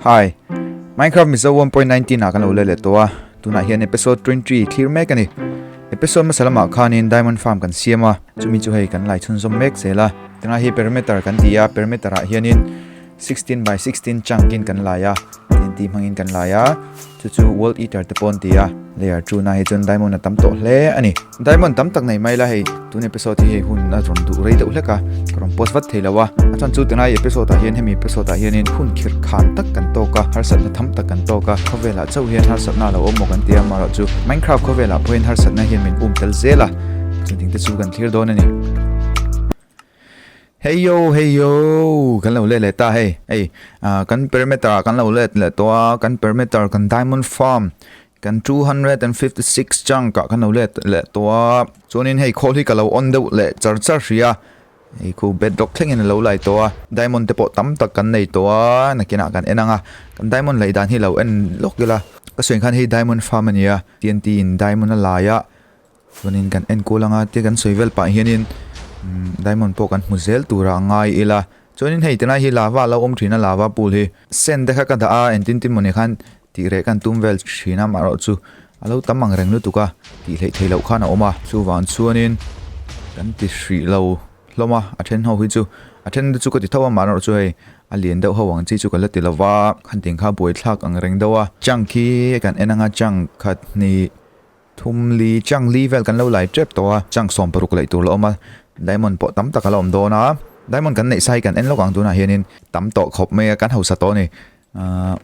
Hi Minecraft Mizo 1.19 ah kan lo leh leh tawh a tunah hian episode 23 thlir mek ani episode masa lamah khanin diamond farm kan siam a chumi chu hei kan lai chhun zawm mek zel a tunah hi perimeter kan ti a perimeter ah hianin 16 by 16 chunk in kan lai a tih hmangin kan lai a Chu chu World Eater te paw'n ti a, layer two na hi chuan diamond a tam tawh hle a ni. Diamond tam tak nei mai la hei, tun episode hi hei hun a rawn duh rei deuh hlek a, ka rawn post vat thei lo a, a chhan chu tilai episode ah hian hemi episode ah hian in hun khirh khal tak kan tawk a, harsatna tham tak kan tawk a, khawvelah chauh hian harsatna a lo awm maw kan ti a, maroh chu Minecraft khawvelah pawhin harsatna hian min um tel zel a, chutiang te chu kan thlir dawn a ni. Heio heio kan lo let leh ta hei ei ah kan perimeter ah kan lo let leh tawh a kan perimeter kan diamond farm kan two hundred and fifty six chunk ah kan lo let leh tawh a chuanin hei khawl hi ka lo on deuh leh char char hria hei khu bedrock thlengin a lo lai tawh a diamond te pawh tam tak kan nei tawh a nakinah kan en ang a kan diamond laih dan hi lo en lawk ila ka suih khan hei diamond farm a nia T N T in diamond a laih a. Chuanin kan enkûl ang a, tia kan sawi vel pah hianin diamond pawh kan hmu zêl tûrah a ngai ila. Chuanin hei tilai hi lava lo awm ṭhîna lava pool hi sand te kha ka dah a, entintin mawni khan tih reh ka han tûm vêl ṭhîn a, amaherawh chu a lo tam ang reng lutuk a, tih hleh theih loh khan a awm a. Chuvang chuanin kan ti hrih lo hlawm a, a ṭhen ho hi chu a ṭhen te chu ka ti tho a, amaherawh chu hei a lian deuh ho ang chi chu ka la ti lo va, khanting kha buaithlâk ang reng deuh a. Chunk hi kan en ang a, chunk khat, hnih, Thum li chang li vel kan lo lai tep tawh a, chang sawm paruk laih tur la awm a, diamond pawh tam tak a la awm dawn a, diamond kan neih sa hi kan en lawk ang tunah hianin tam tawh khawp mai a, kan hausa tawh a ni. Aah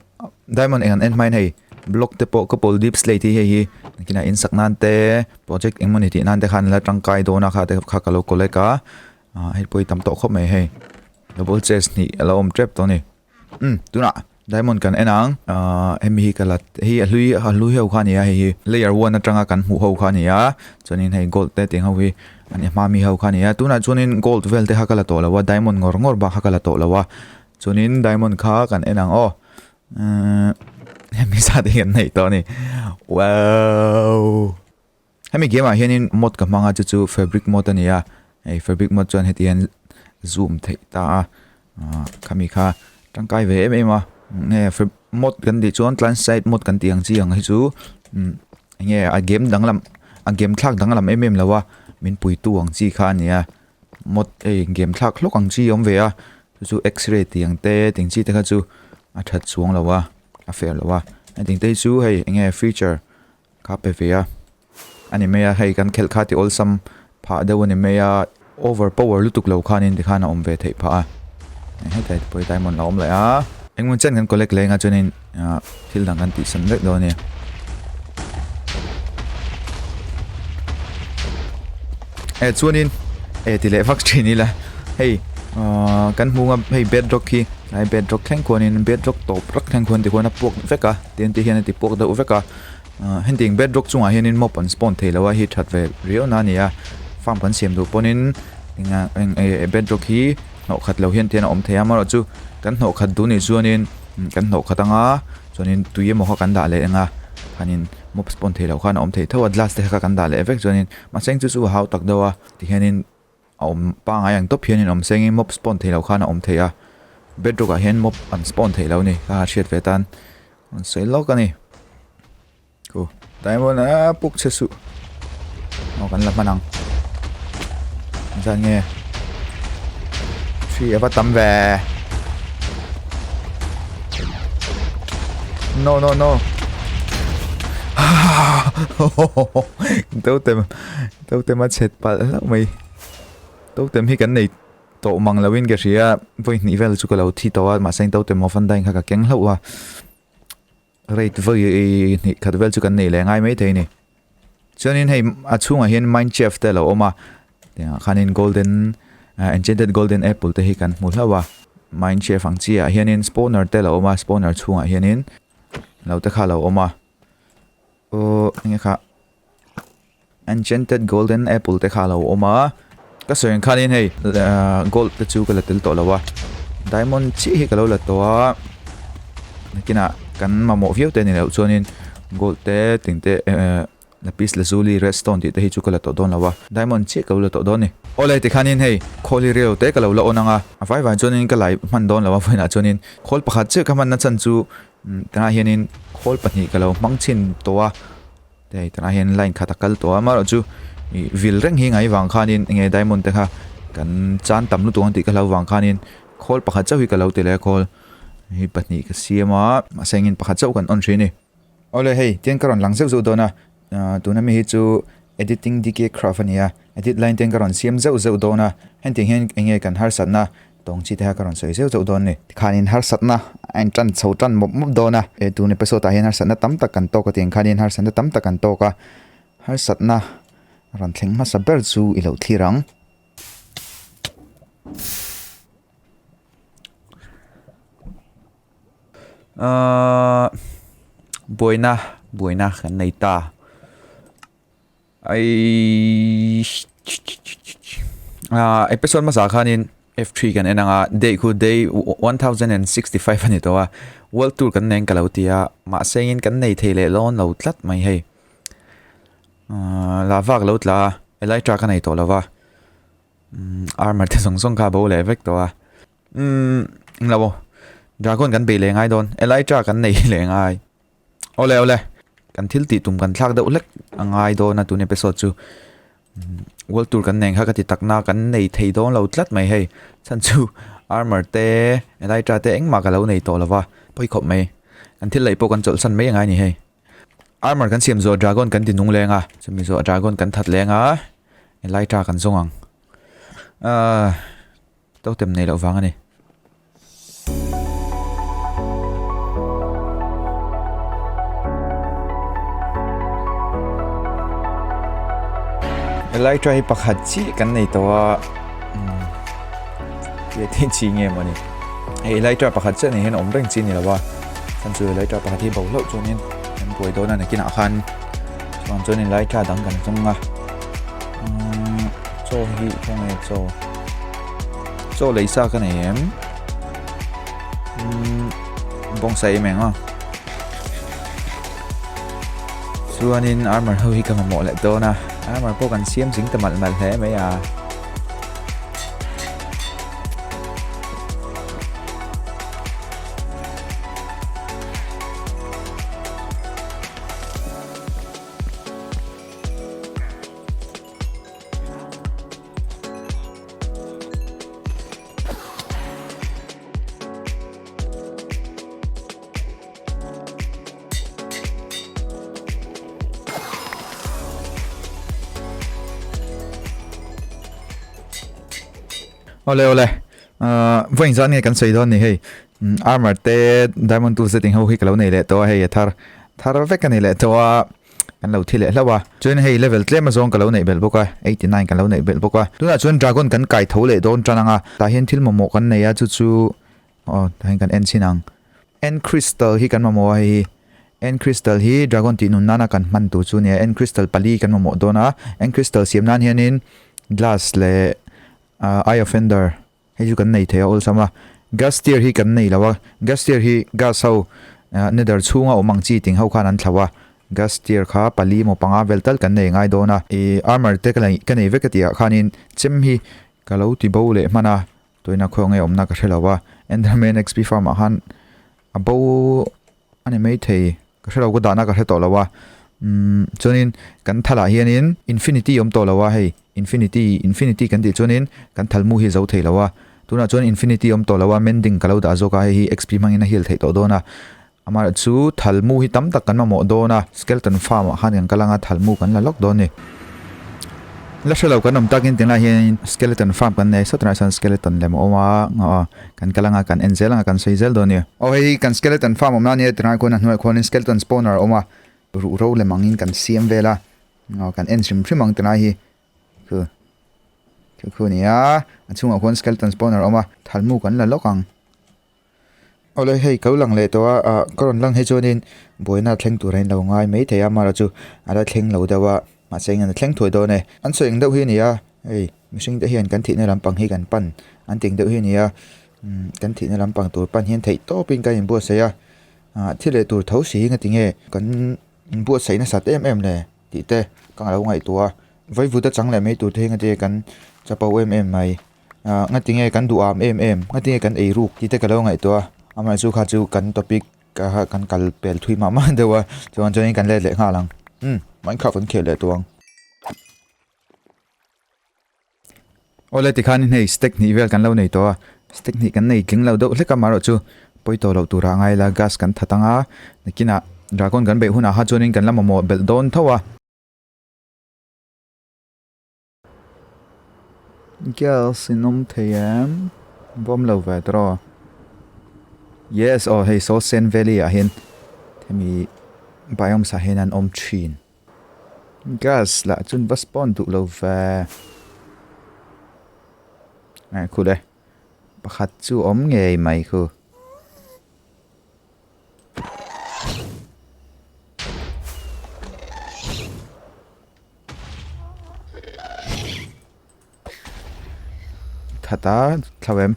diamond eng an en hmain hei block te pawh ka pawl deep slate hi hei hi engtinah in sak nan te project engemaw ni tih nan te khan la tangkai dawn a, kha te kha ka lo collect a, aah hei pawh hi tam tawh khawp mai hei double chest hnih a la awm tep tawh a ni. Umm tunah diamond kan en ang ahh hemi hi ka la hei a hlui a hlui ho kha a ni a hei hi layer one atanga kan hmuh ho kha a ni a chuanin hei gold te tih ho hi an en hma mi ho kha a ni a tunah chuanin gold vel te kha ka la tawh lova diamond ngawr ngawr bak kha ka la tawh lova chuanin diamond kha kan en ang aw umm hemi zat hi kan neih tawh a ni waww. Hemi game ah hianin mod ka hmang a chu chu fabric mod a ni a hei fabric mod chuan heti hian zoom theih ta a khami kha tangkai ve em em a nge mod kan tih chuan client side mod kan tih ang chi ang hi chu nge a game danglam a game thlak danglam em em loa min pui tu ang chi kha a ni a mod hei game thlak hlawk ang chi awm ve a chu chu x-ray tih ang te tih ang chi te kha chu a that chuang lo a a fer lo a a tih te hi chu hei nge feature Kha pe ve a, a ni mai a, hei kan khelh kha tiawlsam phah deuh a ni mai a. Over power lutuk lo khan in tikhan a awm ve theih phah a, hetlai te pawh hi diamond la awm laih a. Eng hun chian kan collect leng a chuanin thil dang kan tih san vek dawn a nia. Eh chuanin eh ti leh vak thin ila hei kan hmung a hei bedrock hi tlai bedrock thleng khuanin bedrock tawp rak thleng khuan tikhuan a puak vek a. ten te hian a ti puak deuh vek a, heng bed rock chungah hianin mop an spawn thei lo a, hei that ve riau na a ni a, farm kan siam duh pawhin eng e bed rock hi hnawh khat lo hian a awm thei a, amaherawhchu chu kan hnawh khat duh nih chuanin kan hnawh khat ang a, chuanin tui emaw kha kan dah leh enga khanin mop spawn thei loh khan a awm thei tho a, glass te kha kan dah leh vek chuanin mahse chu chu a hau tak deuh a tihianin. a awm pangai ang tawp hian in awm sengin mob spawn theih loh khan a awm thei a bedrock ah hian mob an spawn theih loh a ni ka hriat ve tan an sawi lawk a ni ku diamond a puk che suh aw kan la hman ang zan nge three ava tam ve no no no totem Totem a chhet palh hlauh mai. Totem hi kan nei tawh mang lo in ka hria vawi hnih vel chu ka lo thi tawh a mahse in totem ho fan dine kha ka keng hlauh a. Rate vawi hnih khat vel chu kan nei leh ngai mai thei ni. Chuan in hei a chhungah hian mine shaft te lo awm a. Tiang khan in golden uh, enchanted golden apple te hi kan hmu hlauh a. Mine shaft ang chi ah hian in spawner te lo awm a spawner chhungah hian in lo te kha lo awm a. Oh enge kha Enchanted Golden Apple te kha lo awm a ka sawiin khan in hei gold te chu ka la tel tawh lo a diamond chiah hi ka lo la tawh a nakina kan mamawh viau te ni loh chuan in gold te ting te lapis lazuli redstone tih te hi chu ka la tawh dawn lo a diamond chiah ka lo la tawh dawn ni olai ti khan in hei khawl hi relo te ka lo la awn ang a a vai vai chuan in ka lai hman dawn lo a vawiin ah chuan in khawl pakhat chiah ka hman na chhan chu tah hian in khawl pahnih ka lo hmang chhin tawh a Hei tunah hian line khat a kal tawh a amaherawh chu i vil reng hi ngai vang khanin enge diamond te kha kan chan tam lutuk ang tih ka hlau vang khanin call pakhat chauh hi ka lo ti leh a call hi pahnih ka siam a mahse engin pakhat chauh kan on ṭhin ni ole hei tiang ka rawn lang zeuh zeuh dawn a tuna mi hi chu editing dk craft a ni a edit line te ka rawn siam zeuh zeuh dawn a hentiang hian enge kan harsatna Tawngchi te hian ka rawn sawi zeuh zeuh dawn ni? Tikhanin harsatna a entan chho tan mawp mawp dawn a. He tun episode-ah hian harsatna tam tak kan tawk atin khanin harsatna tam tak kan tawk a. Harsatna a rawn thleng hmasa ber chu i lo thlir ang. Ahh buaina buaina kan nei ta. Aii ah episode masa khanin F3 kan en anga day khu day 1065 ani to a world tour kan neng kalo tia ma sengin kan nei thei le lon lo tlat mai hei la vak lo tla elytra ka nei to lova armor te song song kha bo le vek to a um lo dragon kan be le ngai don elytra kan nei le ngai Ole ole. Kan thil ti tum kan thlak deuh hlek a ngai dawn a tun episode chu. Hmm, World Tour kan neng kha ka ti takna kan nei thei dawn lo tlat mai hei. Chan chu armor te, elytra te engmah ka lo nei tawh lova. Pawih khawp mai. Kan thil lei pawh kan chawlh san mai a ngai ni hei. Armor kan siam zuah dragon kan dinung leng a. Chumi zuah dragon kan that leng a. Elytra kan zawng ang. Ah, totem nei loh vang a ni. Elytra hi pakhat chi kan nei to a ti ti chi nge mani e Elytra pakhat chen nei hen om reng chi ni lawa kan chu Elytra pakhat hi baulo chuan in kan buai dona na kin a khan chuan chuan Elytra dang kan chung a cho hi kong e cho Chaw lei sa ka nei em. Hmm, bong sa em eng a. Chuanin armor ho hi ka mamawh leh dawn a. Armor pawh kan siam zing ta mal mal hle mai a. Ole ole. Uh, Veng zan nge kan sei don ni hei. Mm, armor te diamond tools te ting ho hi kalo nei le to hei thar. Thar vek ka nei le to a. kan lo thi leh hlauh a, chuan hei level tlema zawng ka lo neih belh bawk a, eighty nine kan lo neih belh bawk a, tunah chuan dragon kan kai tho leh dawn tan ang a, tah hian thil mamawh kan nei a, chu chu aw tah hian kan en chin ang, end crystal hi kan mamawh a hei hi end crystal hi dragon tih nun nana kan hman tur chu a ni a, end crystal pali kan mamawh dawn a, end crystal siam nan hianin glass leh eye of ender Hei chu kan nei thei a awlsam a, gas tier hi kan nei lo a, gas tier hi gas ho nether chhunga awm ang chi ting ho khan an thlau a, gas tier kha pali emaw panga vel tal kan nei ngai dawn a. I armor te ka nei vek a tihah khanin chem hi ka lo ti bo leh hman a, tawina khawi ang nge awmna ka hre lo a, enderman xp farm ah khan Abo a ni maithei ka hre lo ka dahna ka hre tawh lo a umm chuanin kan thal ah hianin infinity a awm tawh lo a hei infinity infinity kan tih chuanin kan thal mu hi zo thei lo a tunah chuan infinity a awm tawh lo a mending ka lo dah zawk a hei hi xp hmangin a heal theih tawh dawn a amaherawh chu thal mu hi tam tak kan mamawh dawn a skeleton farm ah khan kan kal ang a thal mu kan la lawk dawn a ni la hre lo kan awm takin tunlai ah hianin skeleton farm kan nei sawt a nihah chuan skeleton lem a awm a ngah a. Kan kal anga kan en zel anga kan sawi zel dawn nia. Aw hei hi kan skeleton farm awmna ania tirang khawn a hnuaih khawn in skeleton spawner a awm a ruh ro lem angin kan siam vel a aw kan en hrim hrim ang tilai hi khu khu khu nia a chhungah khawn skeleton spawner a awm a thalmu kan la lawk ang aw le hei ka lo lang leh tawh a ah ka rawn lang hi chuan in buaina thleng tur a in lo ngai mai thei a mahla chu a la thleng lo deuh a. Mahse engin a thleng thuai dawn e. An sawi eng deuh hi a ni a, hei mihring te hian kan thihna lampang hi kan pan an ti eng deuh hi a ni a, umm kan thihna lampang tur pan hian theih tawp in kan in buatsaih a, ah thil leh tur tho si in a ti nge kan in buatsaih nasat em em le tih te ka nga lo ngaihtuah a, vaivut a chang leh mai tur te hi ngatinge kan chapo em em mai, ah ngatinge kan duh am em em, ngatinge kan ei ruk tih te ka lo ngaihtuah a, amaherzua kha chu kan topic Ka kha kan kal pel thui mah mah deuh a, chuan chuan in kan let leh nghal ang. Umm, Minecraft kan khel leh tawh ang. Aw le tikhan in hei stack hnih vel kan lo nei tawh a, stack hnih kan nei tling lo deuh hlek a, mah erawhchu pawi tawh loh turah a ngai la, gas kan that ang a, nakinah dragon kan beih hunah kha chuan in kan la mamawh belh dawn tho a. Girls in awm thei em? Bawm lo ve tawh a. Yes, aw hei saw Sen Valley ah hian hemi biomes ah hian an awm thin. Girls lah chun va spawn duh lo ve. Khu le, pakhat chu awm ngei mai khu. ta thlau em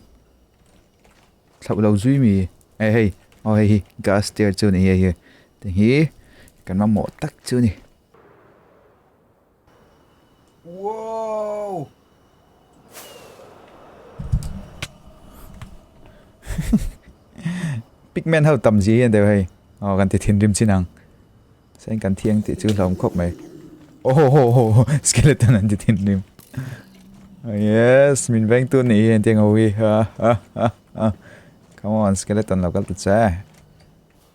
thlau lo zui mi hei hei o hei hi gas tier chu ni hei hi tihi kan mamawh tak chu ni. Pigment ho tam gì hian deuh hei. Aw kan ti thinrim chin ang. Sen kan thiang tih chu hlawm khawp mai. Oh ho ho ho skeleton an ti thinrim. Yes, min veng tu ni hian tiang ho hi. Come on, skeleton lo kal ta che.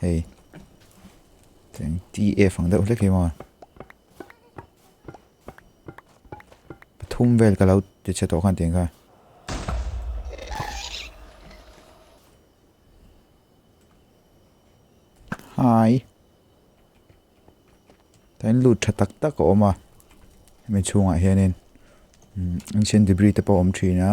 hei eng tf ang deuh hlek hi maw pathum vel ka lo ti chhe tawh khan tiang kha hai tain lut tha tak tak a awm a mi chhungah hianin ancient debris te pawh awm thin a.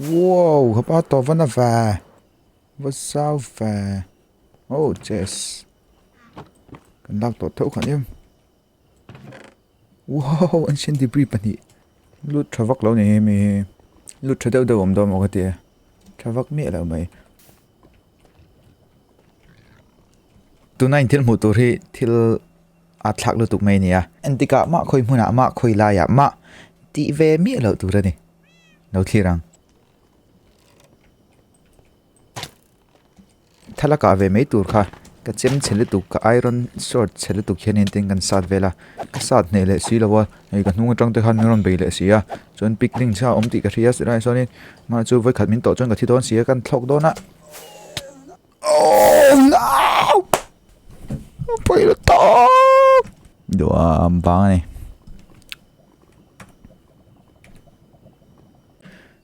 Wow, hepa tawh va na ve. Va zau ve. Oh, yes. Kan lak tawh theuh khan em. Wow, an sen debris pahnih. Lut tha vak lo ni hi mi. Lut tha deuh deuh om dawm ka tia. Tha vak mi lo mai. Tuna in thil hmuh tur hi thil A thlak lutuk mai nia. Entikah mah khawi hmunah mah khawi laiah mah tih ve miah loh tur a ni. Lo thlir ang. Tha la kah ve mai tur kha ka chem chhe lutuk ka iron short chhe lutuk hian in tin kan sat vel a. Ka sat hneh leh si lo a, hei ka hnung atang te khan min rawn bei leh si a. Chuan pic ring chiah a awm tih ka hria a, silaiah sawnin mah chu vawikhat min tawh chuan ka thi dawn si a, kan thlawk dawn a. Pawilo tawk! Dua am vang ani.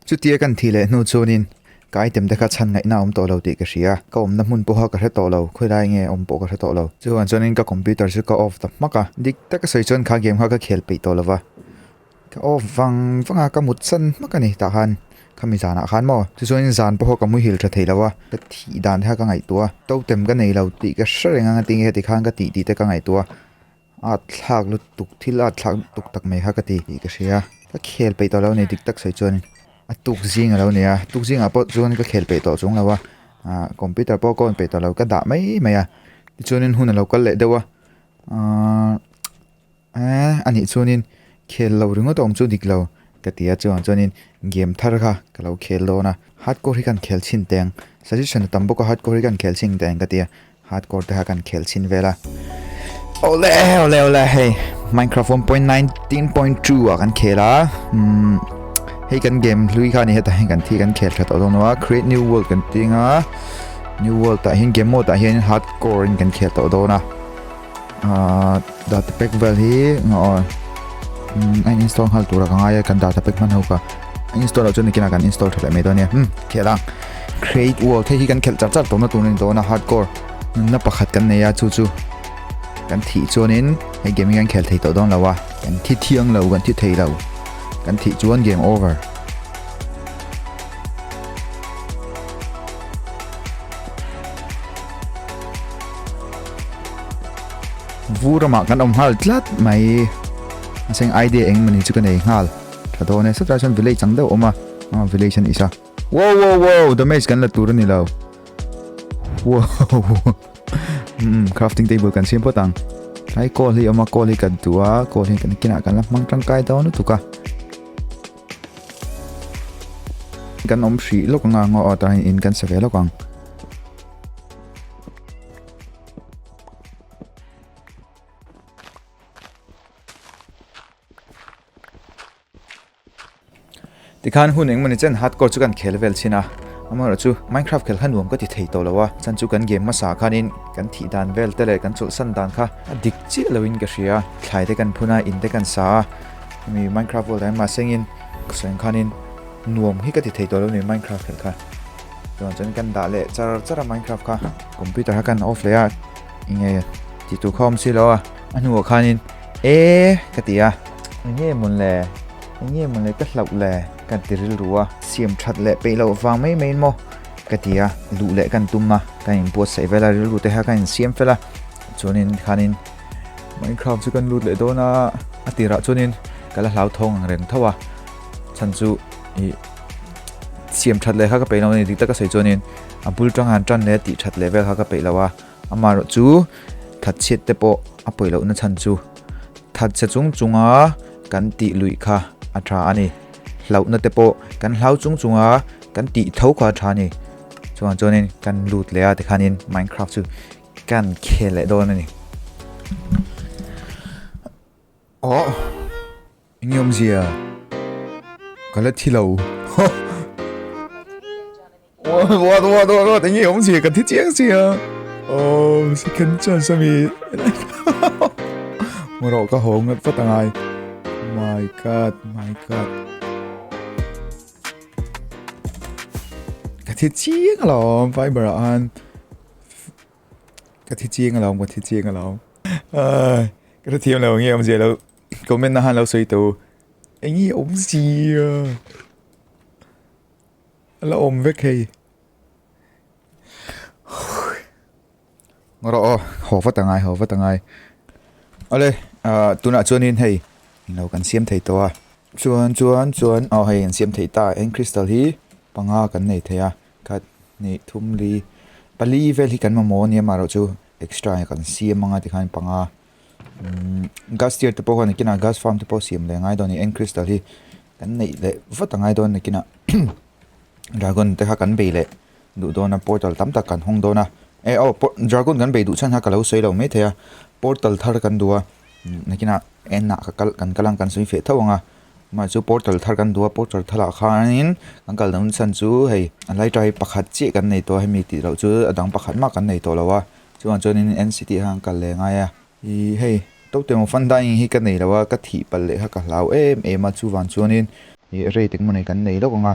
Chutia kan thi leh hnu chuanin ka item te kha chhan ngaihna awm tawh lo tih ka hria. Ka awmna hmun pawha ka hre tawh lo, khawilai nge awm pawh ka hre tawh lo. Chu vang chuanin ka computer chu ka off ta hmak a, dik taka sawi chuan kha game kha ka khel peih tawh lo va. Ka off vang vanga ka mut san hmak a ni tah khan khami zanah khan maw chu chuanin zan pawh ka muhil tha thei lo a ka thih dan te kha ka ngaihtuah a totem ka nei lo tih ka hre reng anga tinge heti khan ka tih tih te ka ngaihtuah a at thlak lutuk thil at thlak lutuk tak mai kha ka ti tih ka hria ka khel peih tawh lo ni dik tak sawi chuanin a tuk zing a lo ni a tuk zing ah pawh chuan ka khel peih tawh chung lo a ah computer pawh ka on peih tawh lo ka dah mai mai a tichuanin hun a lo kal leh deuh a aaa. Aaa, a nih chuanin khel lo ringawt awm chu dik lo, ka ti a, chuvang chuanin game thar kha ka lo khel dawn a, hardcore hi ka han khel chhin teh ang, suggestion a tam bawk a, hardcore hi ka han khel chhin ang teh ang ka ti a, hardcore te kha ka han khel chhin vel a. Awle awle awle, hei Minecraft one point nineteen point two ah kan khel a, umm hei kan game hlui kha ni heta hian kan thi kan khel tha tawh dawn a, create new world kan tih ang a, new world ah hian game mode ah hian hardcore in kan khel tawh dawn a. data pack vel hi nga or anh install hal tura ka ngai kan data pack man ho ka install chu nikina kan install thale mai donia hm khela create wall thei hi kan khel char char to na tunin dona hardcore na pakhat kan nei a chu chu kan thi chuanin hei game kan khel thei to don lawa kan thi thiang lo kan thi thei lo kan thi chuan game over Vu ramah kan awm nghal tlat mai. Aseng idea eng mani chu ka nei nghal. Tha dawn e, sawtlai chuan village ang deuh a awm a. Aa village a ni sa. Wow wow wow, damage kan la tur a ni lo. Wow. Hmm, crafting table kan siam phawt ang. Ai coal hi awm a, coal hi kan tu a, coal hi kan kinah kan la hmang tangkai dawn lutuk a. Kan awm hrih lawk ang a, ngaw a tahin in kan sa ve lawk ang. tikhan hun eng mawni chen hardcore chu kan khel vel chhin a amaherawh chu minecraft khel kha nuam ka ti thei tawh lo a chan chu kan game hmasa khanin kan thih dan vel te leh kan chawlhsan dan kha a dik chiah lo in ka hria thlai te kan phun a in te kan sa a hemi minecraft world ah hian mahsengin ka sawi ang khanin nuam hi ka ti thei tawh lo a ni minecraft khel kha Chuan chuan kan dah leh char char a Minecraft kha. Computer kha kan off leh a, enge tih tur kha awm si lo a. A hnungah khanin ee ka ti a, enge mun le, enge mun le ka hlauh le kan ti rilru a. Siam that leh peih loh vang mai maiin maw ka ti a, luh leh kan tum a, kan in buatsaih vel a, rilru te kha kan in siam fel a. Chuanin khanin Minecraft chu kan lut leh dawn a, a tirah chuanin ka la hlauthawng ang reng tho a, chhan chu ih siam that leh kha ka peih lo a ni dik taka sawi chuanin a bul tang han tan leh tih that leh vel kha ka peih lo a ama rawh chu that chhiat te pawh a pawi lohna chhan chu that chhe chung chunga kan tih luih kha a tha a ni hlauhna te pawh kan hlau chung chunga kan tih tho kha a tha a ni chuan chuanin kan lut leh a tikhanin minecraft chu kan khel leh dawn a ni Aww enge awm zia ka la thi lo What what what what enge awm zia ka thi chiang zia Oh second chance ami Moro ka ho ngat fat angai My god my god Ka thi chiang lo Viber an Ka thi chiang alo ka thi chiang alo ka thi thiam lo nge om zia lo comment na han lo soi to engi om zia ala om vek hei ngoro o ho va tangai ho va tangai ale a tuna chuanin hei lo kan siam thei to a chuan chuan chuan a hei an siam thei ta eng crystal hi panga kan nei thei a Khat, hnih, thum, li, pali vel hi kan mamawh ania mah erawhchu extra hi kan siam anga tikhan i panga umm gas tier te pawh hian nikinah gas farm te pawh siam leh ngai dawn a ni eng crystal hi kan neih leh vat a ngai dawn nikinah dragon te kha kan bei leh duh dawn a portal tam tak kan hawng dawn a e aw dragon kan bei duh chhan kha ka lo sawi lo mai thei a portal thar kan duh a nikinah enah ka kal kan kal ang kan sawi feh thauh ang a. Mah chu portal thar kan duh a portal thar ah khanin kan kal dang chhan chu hei a lai ṭai pakhat chiah kan nei tawh a hemi tih loh chu a dang pakhat mah kan nei tawh lo a chuvang chuanin nct ah khan ka kal leh ngai a ih hei to te maw fun dining hi ka nei lo a ka thih pal leh kha ka hlau em em a chuvang chuanin ih rate engemaw nei kan nei lawk ang a.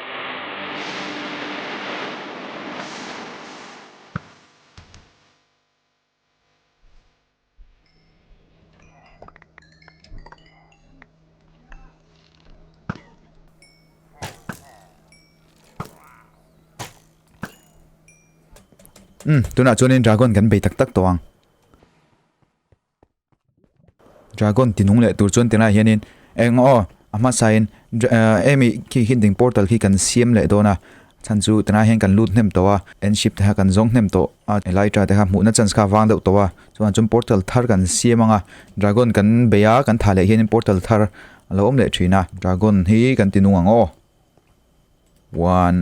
Umm tunah chuan in dragon kan bei tak tak tawh ang. Dragon ti nung leh tur chuan tilaiah hianin eng aw a hmasain emi khi hinding portal khi kan siam leh dawn a chhan chu tilaiah hian kan lut hnem tawh a en ship te kha kan zawng hnem tawh a elytra te kha hmuhna chance kha a vang deuh tawh a chuan ah chuan portal thar kan siam anga dragon kan bei a kan thah leh hian portal thar a lo awm leh thin a dragon hi kan ti nung ang aw one.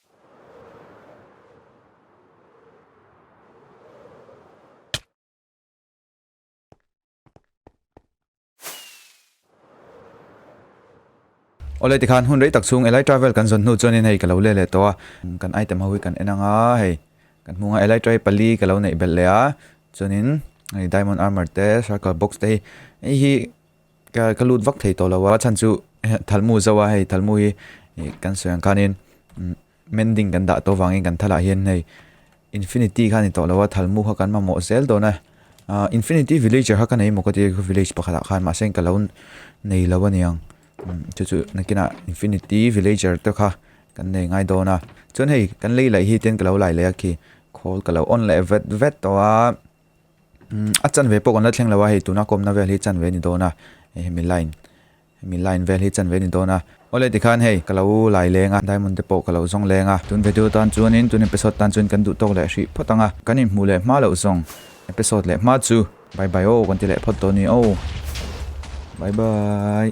Awle tikhan hun rei tak chung Elite Travel kan zawn hnu chuan in hei ka lo le leh tawh a kan item ho hi kan en ang a hei kan hmung a Elite Travel pali ka lo neih belh leh a chuan in hei Diamond Armour te Circle Box te hi hei hi Ka ka lut vak thei tawh lo a chhan chu thalmu zo a hei thalmu hi kan sawi ang khanin mending kan dah tawh vangin kan thalah hian hei infinity kha ni tawh lo a thalmu kha kan mamawh zel dawn a infinity villager kha ka nei mawk a tir village pakhatah khan mahse ka lo nei lo aniang chu chu nakina infinity villager te kha kan nei ngai dawn a chuan hei kan lei laih hi ten ka lo lai leh a khi khawl ka lo on leh vet vet tawh a a chanve pawh kan la thleng lo a hei tuna a kawmna vel hi chanve ni dawn a hemi line hemi line vel hi chanve ni dawn a. Awle tikhan hei ka lo lai leng a diamond te pawh ka lo zawng leng a tun video tan chuanin tun episode tan chuan kan duh tawk leh hrih phawt ang a kan in hmuh leh hma loh zawng episode leh hma chu bye bye aw kan ti leh phawt dawn ni aw bye bye.